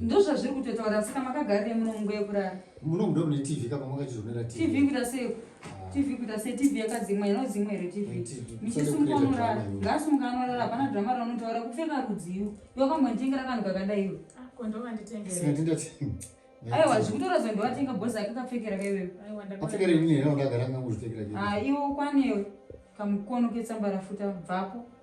ndozvazviri kutotaura asika makagarire muno munguva yekurara muno mudo mune tv kapa makachizvonera tv kuita sei ah. tv kuita sei tv yakadzimwa inodzimwa here tv michisumuka unorara ngaasumuka anorara hapana drama raunotaura kupfeka rudziyo iwe kambontengera kanhu kakadai iwe ah, aiwa zvikutora zvondovatenga bhozi ake kapfekera kaiwewe ah, iwe ukwanewe kamukono ketsambarafuta bvapo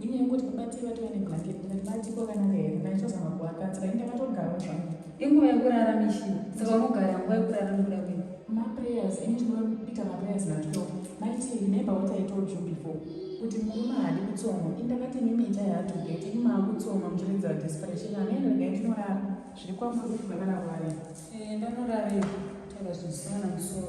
Nyaya yekuti baba Tee vatove neblanket ndikati vati kwakanaka here ndaichazama kuvakanzira ini ndakatogara zvangu. Inguva yekurara mishini saka unogara nguva yekurara nokuda kwei? Maprayers ini ndinobika maprayers natwelve night remember what I told you before kuti murume haadi kutsoma ini ndakati mimi itai hard to get ini maakutsoma muchiridza desperation amene regai ndinorara zviri kwamuri kuti bana rwari eh, ndanorarei taira zvinosiyana musoro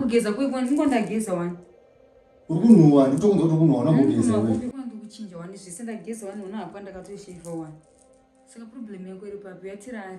kugeza kuiko ndingo ndageza wani uri kunhuwa nditokunza kuti kunhuwa unambogeza kuchinja wani zvese ndageza wani ona hapa ndakatosheva wani saka problem yako iri papi yatirari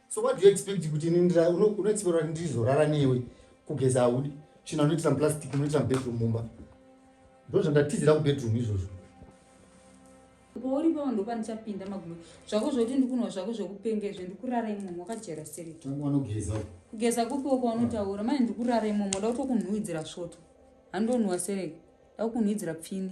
so what do you expect kuti unoexiperwa kuti ndizorara newe kugeza haudi china unoitisa muplastic unoitisa mubedroom mumba ndo zvandatizira kubedroom izvozvo pauri pavo ndopanichapinda magumo zvako zvokuti ndikunwa zvako zvokupenga izvo ndikurara imomo wakajera sereti kugeza kupiwo kwaunotaura mani ndikurara imomo da kutokunhuwidzira svoto handonhuwa sereki da kukunhuwidzira pfini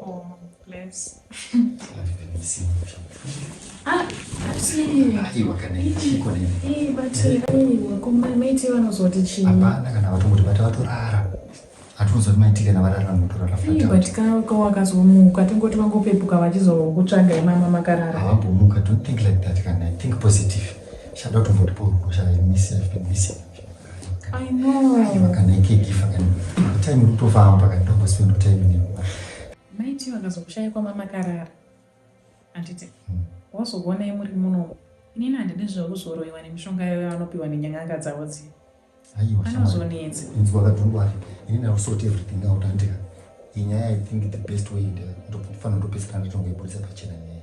oh, bless. Ah, hapana kana vatomoti vati vatorara hatiuza maiti kana varara notorara but ka wakazomuka tingoti vangopepuka vachizokutsvaga imama makarara havambomuka don't think like that kana think positive shada kutombotiporuko shaa miss i've been missing maiti vakazokushaya kwama makarara handiti hmm. wazokuonai muri munomo inini handidi zvekuzoroiwa nemishonga yayo yavanopiwa nenyang'anga dzavo dziya anozonetsa inzwa kadhungwari inini ausort everything out handika inyaya i think the best way ndofanira ndopedzisira ndatongoiburitsa pachena nyaya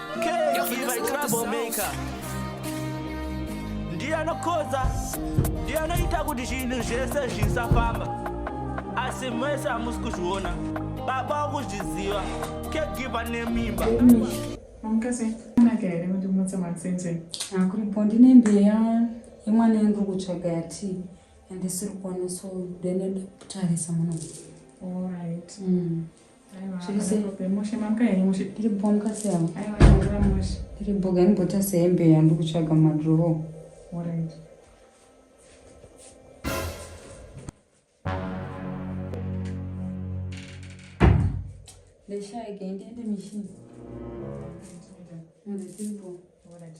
ndiye anokodza ndiye anoita kuti zvinhu zvese zvisafamba asi mese hamusi kuzviona baba wakuzviziva kegiva nemimba kuripo ndine mbeya yemwana yandiri kutsvaga yati andisiri kuona so ndene ndakutarisa muno tiribhoga ndibota sehembe yandi kutsvaga madrowo ndeshaike ndiende mishini All right.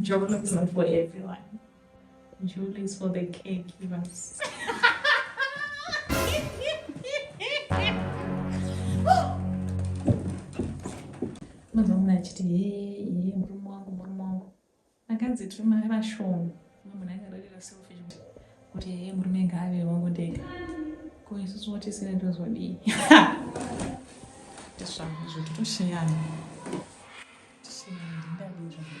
Jolo is not for everyone. Jolo is for the caregivers. Mwanzo mna achiti yeye yeye murume wangu murume wangu. Vakadzi tiri mari vashoma. Mama munhu akarerera selfish kuti hee murume ngaave wangu ndega ko isusu watisire ndozodii tisvanga izvo titosheyana tisheyana ndindadii zvangu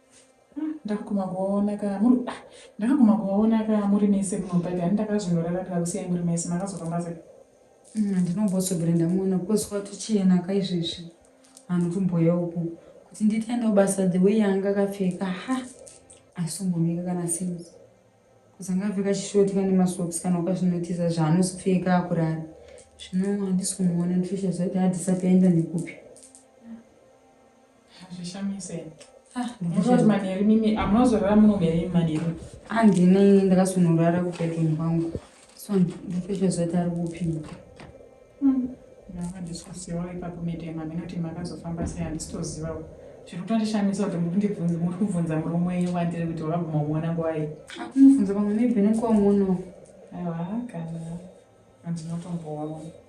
ndakaguma kuvaona ka muri ah, ndakaguma kuvaona ka muri mese munopaida ani ndakazvinoraramira kusiyai muri mese makazofamba sei mm, ndinombosogera ndamuona because kwatochena ka izvezvi vanhu tumboya uku kuti nditaenda kubasa the way yanga akapfeka ha asombomeka kana since kuzanga apfeka chishoti kane masocks kana ukazvinotiza zvaanozopfeka akurara zvino handisi kumuona ndifisha zvaiti hadisati aenda nekupi Hazvishamise. Ah, ndinototi manheru mimi amunozorara muno here imi manheru? Andine ndakazonorara kubedroom kwangu. So ndipeshe zoti ari kupi. Hmm. Ndakadiskusiwa ipapo mitema minoti makazofamba sei handisitoziva. Zviri kutondishamisa kuti muri kundibvunza muri kubvunza murume wenyu wandiri kuti wakaguma kuona ngwai. Akunobvunza ah, pamwe maybe nekuwamuonawo. Aiwa kana handinotombowaona.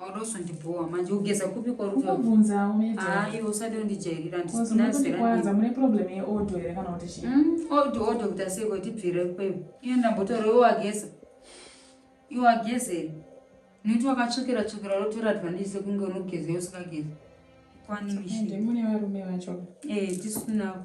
Wauda kuzondibhowa manje ugeza kupi kwarumbunzawo ayo usati undijairira ndinazveranza mune problem yeodo here kana kuti chii mm, odo odo kuita sei kuti ibvire kweyo iye ndambotoro iwageza iwagezeri nekuti wakatsvukira tsvukira rotora advantage sekunge unogeza usingagezi kwanimishimune varume vacho ee eh, tisunavo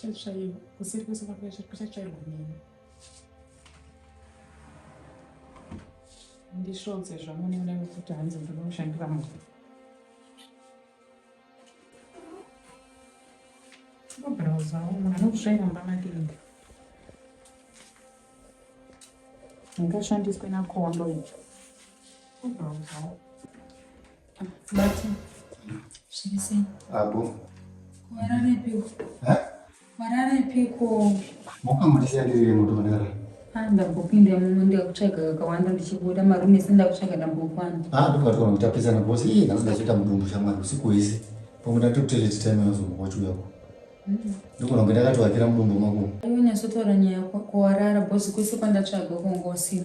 Chatsvaiwa, kuseri kwese kwachatsvairwa nini. Ndisvodze zvamune mune kuti hanzi ndinoda kushandira munhu. Kubrowsa umu anokusvaira mumba make inga. Ndingashandiswe nakondo icho. Bati. Zvirisei. Abo. Warare piko. Ha? Warare piko. Mokamurisa ndiri mudodara. Ah, ndambopinda muno ndakutsvaga kakawanda ndichibuda marume se ndakutsvaga ndambokwana. Ah, ndokatwa mutapesana boss. Iye ndakazodachita mudumbu shamwari usiku wese. Pamwe ndatokuteleti time yozombokochi uyako. ndikona kuti ndakatoakira mudumbu mako aiwe nyasotaura nyaya kuwarara bhosi kwese kwandatsvaga kongosina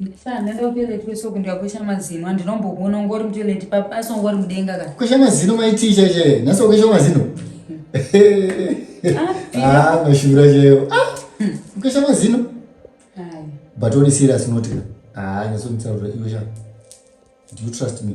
Ndinoda kutoilet kwesoko ndikakwesha mazino andinombobona ungori mutoilet papa asi ungori mudenga ka. Kwesha mazino maitii chaichaiye nhasi wakwesha mazino. Ah, ah mashura chaiwo. Ah, kwesha mazino. But only serious not. Ah, nyasonditsaurira iwe sha. Do you trust me?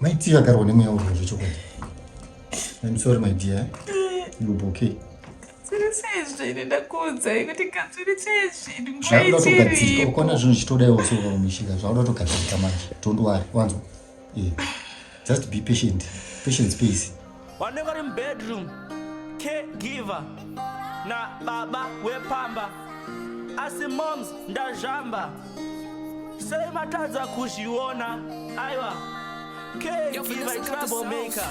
Mai Tia akarwa nemweya urwa zvechokwadi. I'm sorry my dear. You'll be okay. Sezvo ine ndakuudzai kuti katsviri chezvinhu ngaichiripo. Zvauda togadzirika, ukona zvinhu zvichitoda iwe usiku kumishika, zvauda togadzirika manje. Don't worry, wanzwa? Yeah. Just be patient. Patience pays. vanenge vari mubedroom caregiver nababa wepamba asi moms ndazvamba sei matadza kuzviona aiwa caregiver troublemaker